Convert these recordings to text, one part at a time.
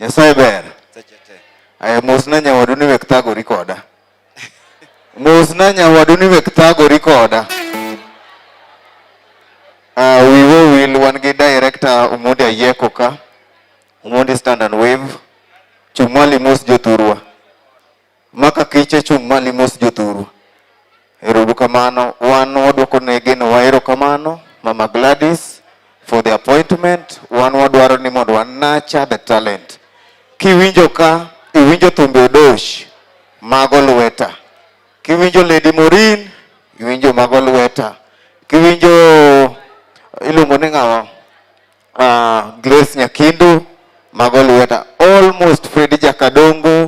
Nyasaye ber. Aya mosna nyawadu ni wek thagori koda. Mosna nyawadu ni wek thagori koda. Uh, we will will wan gi director Omondi Ayeko ka. Omondi stand and wave. Chumali mos jothurwa. Maka kiche chung' mali mos jothuru. Erobu kamano, wan wadwoko ne geno waero kamano, Mama Gladys, for the appointment, wan wadwaro ni mondo wa nurture the talent. Kiwinjo ka, iwinjo thumbe odosh, mago lweta. Kiwinjo Lady Morin, iwinjo mago lweta. Kiwinjo iluongo ni ng'awa? uh, Grace Nyakindu mago lweta almost Fredi Jakadongo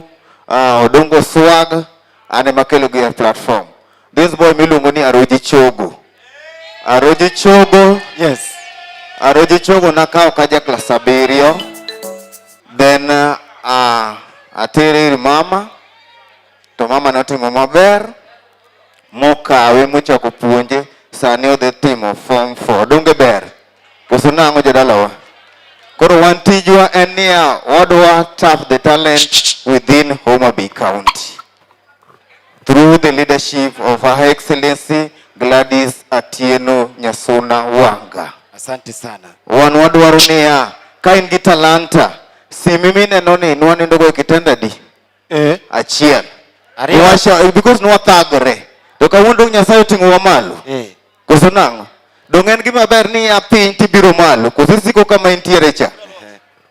uh, Odongo Swag ane makelo gi platform this boy miluongo ni Aroji Chogo Aroji Chogo yes Aroji Chogo nakawo kaja klas abiriyo then uh, ah, atere ir mama to mama notimo maber mokawe mochako puonje sani odhi timo form 4 donge ber Koso nang'o jodalawa? Koro wan tijwa en niya, wadwa tap the talent within Homa Bay County through the leadership of Her Excellency Gladys Atieno Nyasuna Wanga. Asante sana. Wan wadwaro niya, ka in gi talanta, simi mineno ni nwanindogo e kitendadi eh. achiel Ariyo. Washa, eh, because nwathagore to kawuono dong nyasaye oting'owa malo Eh. koso nang'o dong en gima ber ni a piny tibiro malo koso isiko kama intiere cha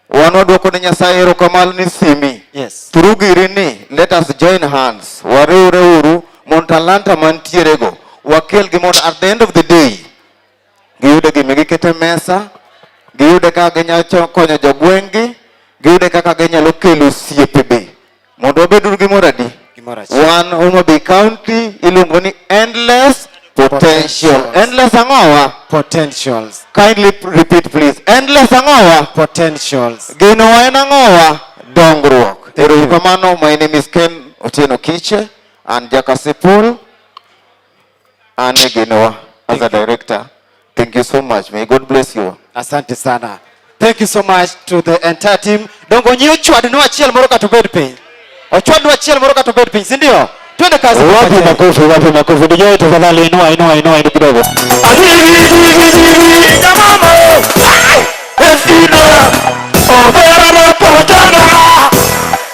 wan wadwoko ne nyasaye erokamano ni simi Yes. through giri ni let us join hands wariwre uru mondo talanta mantierego wakelgi mondo at the end of the day giyude gima gikete mesa, giyude kaka ginyalo konyo jogweng'gi, giyude kaka ginyalo kelo osiepe be. Mondo wabed gi mor adi? Wan Homa Bay County iluongo ni endless potential. Endless ang'owa? Potentials. Kindly repeat please. Endless ang'owa? Potentials. Gino wa en ang'owa? Dongruok. Erokamano, my name is Ken Otieno Kiche and Jakasipul. Anne Genoa as a director. Thank you so much. May God bless you. Asante sana. Thank you so much to the entire team. Dongo nyi ochwad no achiel moro ka to bed piny. Ochwad no achiel moro ka to bed piny, si ndio? Twende kazi. Wapi makofi, wapi makofi. Ndio yote tafadhali inua inua inua ndio kidogo. Asante.